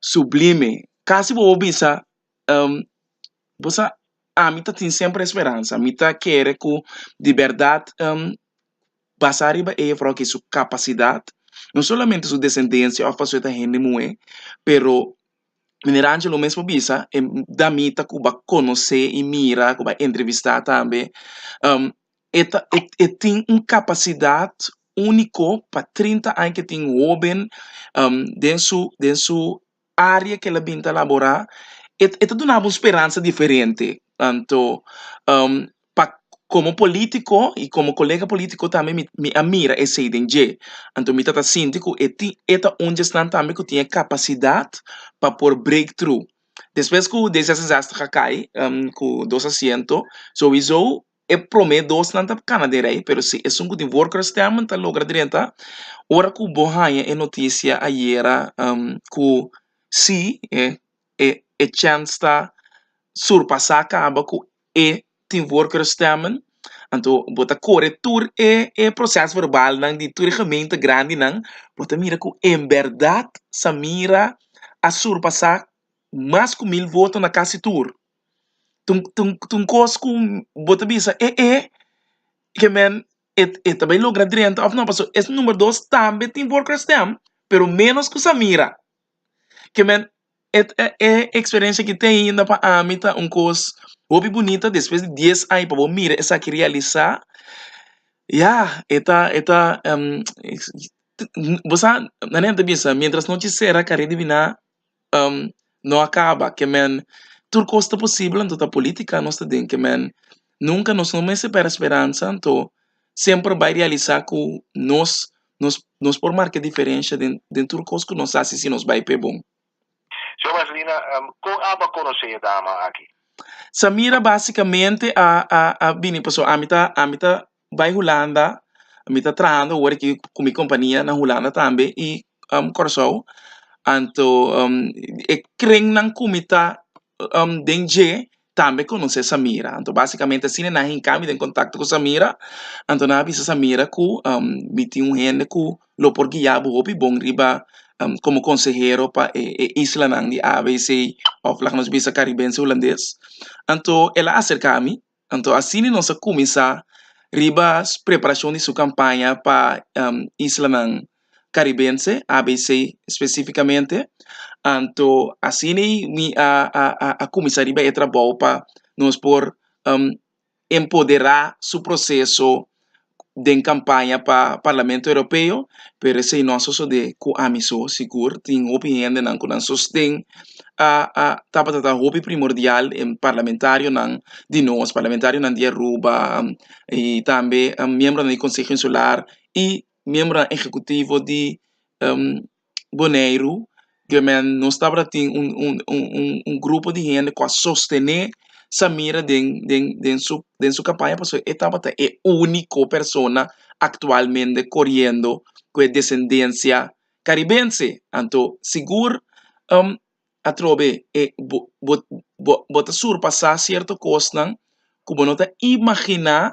Sublime. Casi bobo bisa ehm bo sa ami ta tin semper esperansa mi ta kere cu di berdad ehm basa ariba ella por su capacidad no solamente su descendencia of pasobra e ta hende muhe pero meneer Angelo mesmo bisa e damita cu ba conoce y mira cu ba entrevista tambe ehm. E ta e e tin un kapasidat úniko pa trinta aña ke tin hóben den su den su área ke el a bin ta laborá. E e ta dunaba un speransa diferente tanto pa komo polítiko i komo kolega polítiko tambe mi mi a mira esei den dje. Anto mi ta ta sinti ku e tin e ta un dje esnan tambe ku tin e kapasidat pa por break thru. Despues ku D66 a kai ku dos asiento, sowisou E prome dos nan ta kana den rei pero si esun ku tin worker stamp ta logra drenta ora ku bo haña e notisia ayera ku si e e chèns ta surpasá kaba ku e tin worker stamp anto bo ta kore tur e e proseso verbalnan di tur e gemeente grandinan bo ta mira ku en bèrdat Samira a surpasá mas ku mil voto na kasi tur. ta un ta un ta un kos ku bo ta bisa e e ke men e e ta bay logra drenta of no paso es numero dos tambe tin worker stamp pero menos ku sa mira ke men et e e experencia ke tin ainda pa ami ta un kos hopi bunita despues di dies aña pa bo mira esaki realisa ya e ta e ta bo sa nan e ta bisa mientras nochi sera kare dibina. no a kaba ke men tur kos ta posibel anto ta politika nos ta den ke men nunka nos no mester pèrdè speransa anto semper bai realisá ku nos nos nos por marka diferensha den den tur kos ku nos hasi si nos bai p'e bon. Señor Marcelino kon abo a konosé e dama aki? Samira basikamente a a a bini pasobra ami ta ami ta bai hulanda mi ta trahando awor aki cu mi compania na hulanda tambe y Kòrsou anto e krennan cu mi ta den dje tambe conoce Samira anto basicamente asina e nan a hinca mi den contacto cu Samira anto nan a bisa Samira cu mi tin un hende cu lo por guia bo hopi bon riba como consehero pa e islanan di ABC of lak nos bisa Caribense Hulandes anto el a acerca mi Anto asina nos a kuminsá riba preparashon di su kampaña pa islanan karibense, ABC, spesifikamente. Anto asina ei mi a a kuminsá riba e trabou pa nos por empoderá su proseso. den campaña pa Parlamento Europeo, pero esey no a sosode cu ami so, sigur tin hopi hendenan cu nan sosten a a tabata ta hopi primordial den parlamentarionan di nos, parlamentarionan di Aruba y tambe miembronan di Conseho Insular y miembronan ehecutivo di Boneiru, gemen nos tabata tin un un un un un grupo di hende ku a sostené Samira den den den su den su kampaña pasobra e tabata e úniko persona aktualmente koriendo ku e desendensia karibense, anto sigur atrobe e bo bo bo bo ta surpasá sierto kosnan ku bo no ta imaginá,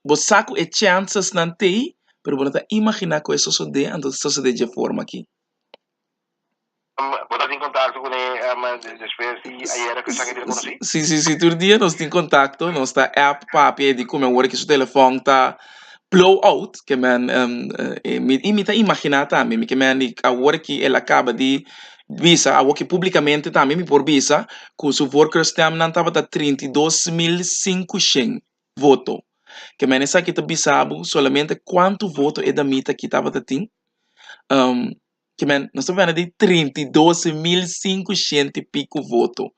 bo sa ku e chènsesnan t'ei pero bo no ta imaginá ku e sosodé anto ta sosodé dje forma akí. Bo ta tin kontakto ku ne despues di ayera ku esaki a bira konosí? Si si si tur dia nos tin kontakto, nos ta app papia di kume wòrdu ku su telefòn ta. blowout ke men y mi ta imagina tambe ke men di awor ke el a kaba di bisa awor ke publicamente tambe mi por bisa ku su vorkeur stem nan tabata trinta i dos mil sinku shen voto ke men esaki ta bisa bo solamente kuantu voto e damita aki tabata tin ke men no staba wende di trinta i dos mil sinku shenti piko voto.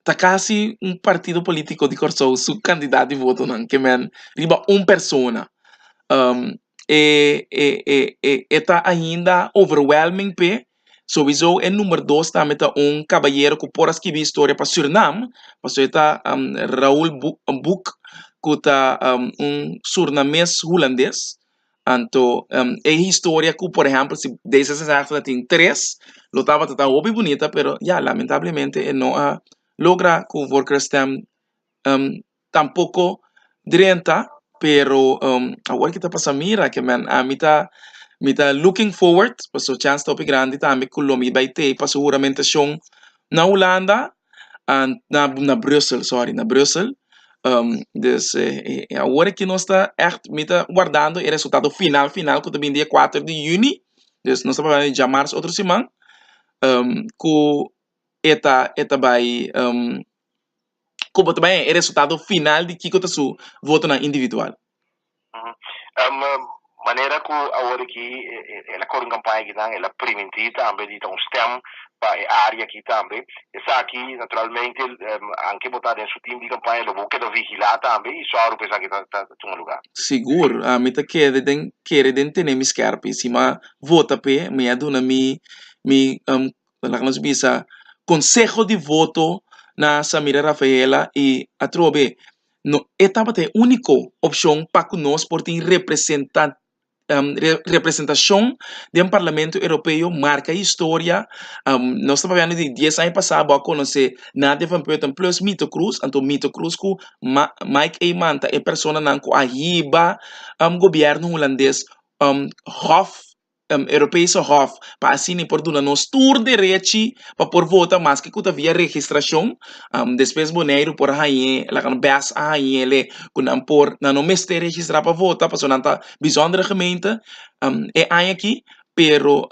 ta casi un partido politico di Kòrsou su candidat di votonan ke mèn riba un persona e e e e e ta ainda overwhelming p'e sowiso e number dos tambe ta un kabayero ku por a skibi historia pa Surinam paso e ta Raul Buk Buk ku ta un surnames hulandes Anto e historia ku por ehèmpel si D zesensègtig ta tin tres lo tabata ta hopi bunita pero ya lamentablemente e no a logra ku vorkrstem tampoko drenta pero awor kita pasa mira kimen a mi ta mi ta looking forward paso chans ta hopi grandi tambe ku lo mi bai tei paso huramentacion na Hulanda and na na brussel sorry na brussel um this e e awor aki nos ta echt mi ta guardando e resultado final final ku ta bini dia kuater di yüni dus nos ta pará di djamars otro siman um ku e ta e ta bai um ku bo ta bai e resultado final di kiko ta su votonan individual. Manera ku awor aki el a kore un kampaña aki nan el a primintí tambe di ta un stèm pa e área aki tambe. Esaki naturalmente anke bo ta den su tim di kampaña lo bo keda vigilá tambe i sòru pa esaki ta tuma lugá. Sigur, ami ta keda den kere den tene mi skèrpi. Sima vota p'e mi a duna mi mi laga nos bisa konseho di voto na Samira Rafaela i atrobe No, e tabata e úniko opshon pa ku nos por tin representa, representashon den Parlamento Europeo, marka historia. Nos ta papia di dies aña pasá bo a konosé Nadia van Putten plus Mito Kroes, anto Mito Kroes ku Ma- Mike Eman ta e personanan ku a hiba gobièrnu hulandes hof. Europese Hof pa asina e por duna nos tur derechi pa por vota maske ku ta via registrashon despues Boneiru por hañ'é laga no bèst a hañ'é ku nan por nan no mester registrá pa vota pasobra nan ta bizondere gemeente e aña aki pero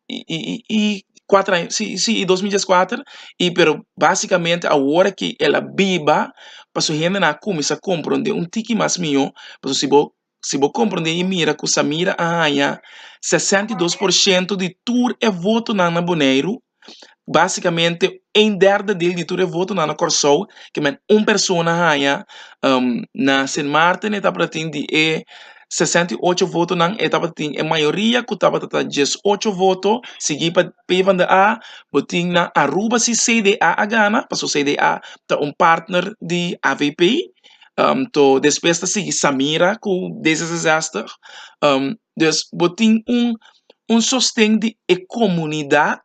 i kuater aña si si i dos mil dies kuater i pero basikamente awor aki el a biba pasobra hende nan a kuminsá komprondé un tiki mas mió pasobra si bo Si bo komprendé i mira ku Samira a haña sesenta i dos por shento di tur e votonan na Boneiru, básikamente un derde del di tur e votonan na Kòrsou, ke men un persona a haña, na Sint Maarten e tabata tin di e sesenta i ocho votonan e tabata tin e mayoria ku tabata ta dies ocho voto, sigui pa PBandaA, bo tin na Aruba si CDA a gana, pasobra CDA ta un partner di avp. am to despues ta sigui Samira ku D zesenzestig am dus bo tin un un sosten di e komunidat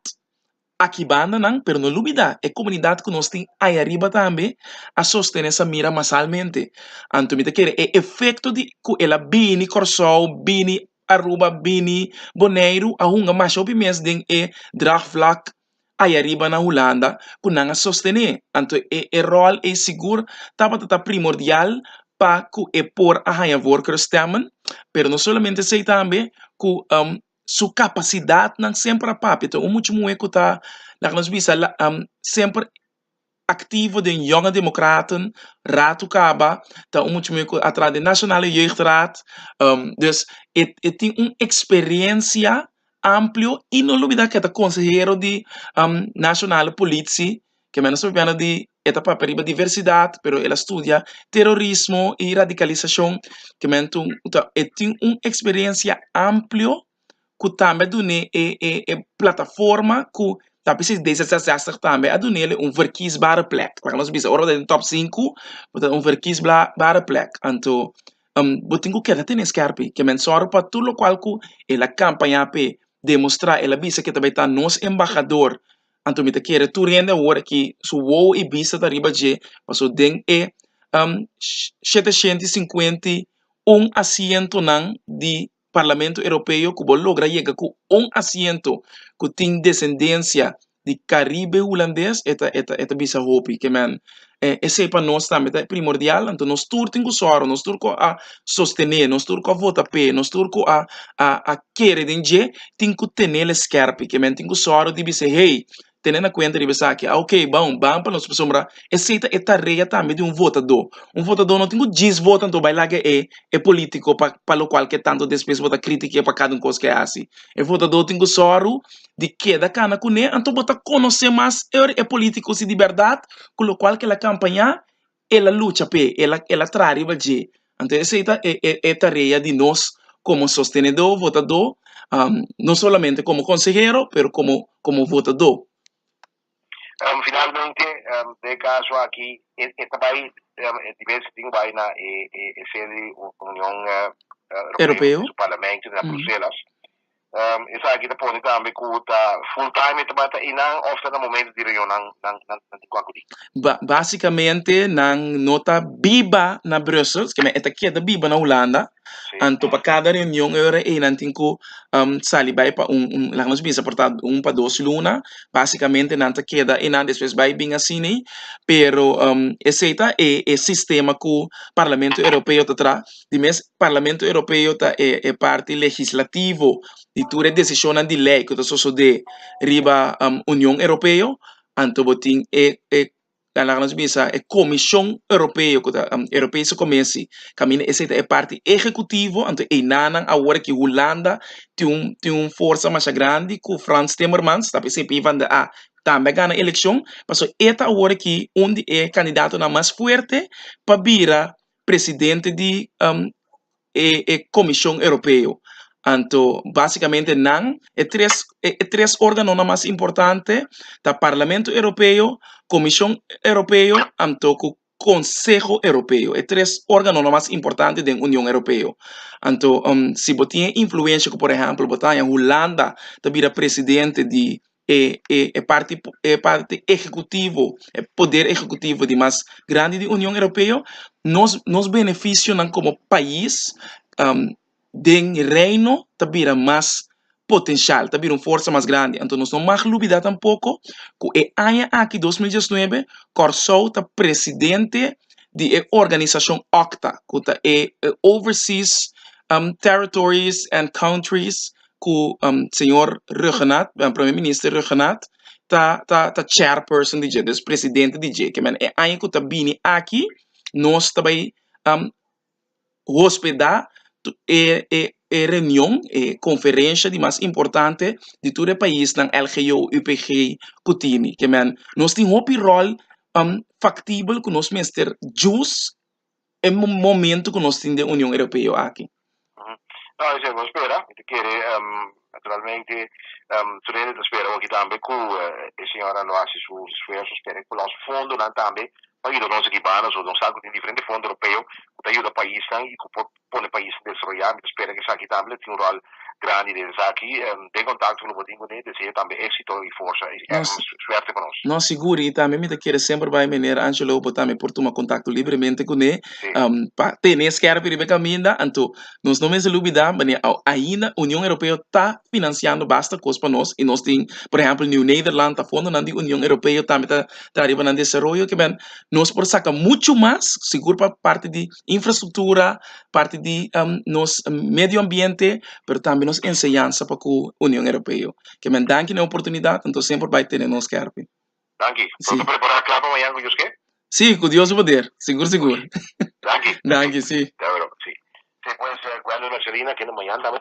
aki banda nan pero no lubida e komunidat ku nos tin aya riba tambe a sostene Samira masalmente anto mi ta kere e efekto di ku el a bini Kòrsou bini Aruba bini Boneiru a hunga masha hopi mes den e draagvlak Ai ariba na Hulanda ku nan a sostené, anto e e ròl ei sigur tabata ta primordial pa ku e por a haña wor Crus Stemmen, pero no solamente esei tambe ku su kapasidatnan semper a papia. Ta un mucha muhé ku ta, laga nos bisa, semper aktivo den Jonge Democraten, Ratu Kaba ta un mucha muhé ku a traha den Nationale Jeugdraad, dus e e tin un eksperensia amplio i no olbida ke ta konsehero di Nationale Politie, ke men a sa papia di e ta papia riba diversidat pero el a studia terorismo i radikalisashon, kementu e tin un eksperensia amplio. ku tambe a dun'é e e e plataforma ku ta bisnis d zes zes zestig tambe a dunele un verkiesbare plek laga nos bisa ora bo ta den top sinku bo ta den un verkiesbare bare plek anto bo tin ku keda tene skerpi ke men sòru pa tur lokual ku e la kampaña p'e demostrá e la bisa ke ta bai ta nos embahador anto mi ta kere tur hende awor aki su wow i bista ta riba dje paso den e shete shenti sinkuenti un asientonan di Parlamento Europeo ku bo logra yega ku un asiento ku tin desendensia di Karibe Hulandes e ta e ta e ta bisa hopi ke men e esei pa nos tambe ta primordial anto nos tur tin ku sòru nos tur ku a sostené nos tur ku a vota p'e nos tur ku a a a kere den dje tin ku tenel e skèrpi ke men tin ku sòru di bis'e hey tene na kuenta riba esaki, a ok bon ban pa nos pasobra esei ta e tarea tambe di un votadó, un votadó no tin ku djis vota anto bai laga e e polítiko pa pa lo kual ke tantu despues bo ta kritike pa kada un kos ke e hasi, e votadó tin ku sòru di keda kana kuné anto bo ta konosé mas e polítiko si di bèrdat ku lokual kel a kampañá el a lucha p'e, el a el a traha riba dje. Anto esei ta e e e tarea di nos komo sostenedó, votadó, no solamente komo konsehero pero komo komo votadó. Finalmente den e kaso aki e e ta bai di bes si tin bai na e e e sede di Union Europeo, su parlamento na Bruselas. Esaki ta pone tambe ku ta full time e tabata i nan òf ta na momentu di reunion nan nan nan nan tin ku a kudí. Ba, básikamente nan no ta biba na Brussels, ke men e ta keda biba na Hulanda, Sí. anto pa kada reunion e ora ei nan tin ku sali bai pa un un laga nos bisa por ta un pa dos luna, básikamente nan ta keda einan despues bai bin asina, pero esei ta e e sistema ku Parlamento Europeo ta traha. di mes Parlamento Europeo ta e e parti legislativo di tur e decisionnan di ley ku ta sosodé riba Union Europeo, anto bo tin e e laga nos bisa e Comision Europeo ku ta Europese Comisi kaminda esei ta e parti ehekutivo, anto einanan awor aki Hulanda tin un tin un forsa masha grandi ku Frans Timmermans tapi esei PvdA tambe a gana elekshon, pasobra e ta awor aki un di e kandidatonan mas fuerte pa bira presidente di e Comision Europeo. Anto basicamente nan e tres e tres organonan mas importante ta Parlamento Europeo, Comision Europeo anto cu Conseho Europeo. E tres organonan mas importante den Union Europeo. Anto si bo tin e influencia cu por ehempel bo ta Hulanda ta bira presidente di e e e parti e parti ehecutivo e poder ehecutivo di mas grandi di Union Europeo nos nos beneficionan como pais den reino ta bira mas potencial ta bira un forsa mas grandi anto nos no mag lubida tampoco cu e aña aki dos mil diesnuebe Kòrsou ta presidente di e organisacion òkta cu ta e e overseas territories and countries. ku señor Rhuggenaath, Prome Minister Rhuggenaath ta ta ta Chairperson di dje, dus Presidente di dje. Ke men e aña ku ta bini aki nos ta bai hospeda e e e reunion, e konferensha di mas importante di tur e paisnan LGO, UPG ku tini. Ke men nos tin hopi ròl faktibel ku nos mester jus e momento cu nos tin den Union Europeo aki. No, esei bo spera. Mi ta kere, naturalmente, Frede ta spera hopi tambe cu e señora lo haci su esfuerzo. Spera cu los fondonan tambe por yuda nos aki banda. So nos sa cu tin diferente fondo Europeo cu ta yuda paisnan y cu por pone paisnan desaroyá. Mi ta spera cu esaki tambe lo tin un rol grandi den esaki. Den contacto cu lo bo tin cun'e, deseo tambe éxito y forza y Nos, ermans suerte pa nos. nos siguri y tambe mi ta kere semper bay meneer Angelo bo tambe por tuma contacto libremente cun'e Sí. pa tene skerpi riba e caminda. Anto nos no mester lubida wanneer a ainda Union Europeo ta financiando basta cos pa nos y nos tin por ehempel New Nederland ta fondonan di Union Europeo tambe ta traha riba nan desaroyo kiben nos por saca mucho mas sigur pa parti di infrastruktura parti di nos medio ambiente pero tambe nos enseñansa pa ku Union Europeo kimin danki na e oportunidat anto semper bai tene nos kèrbei. Danki, pronto prepará kla pa mañan ku Dios ke? Si, ku Dios su poder, sigur sigur. Danki. Danki, si. Ta wèl òf, si. Si pues, Gwendolyn òf Sherina kende mañan tambe?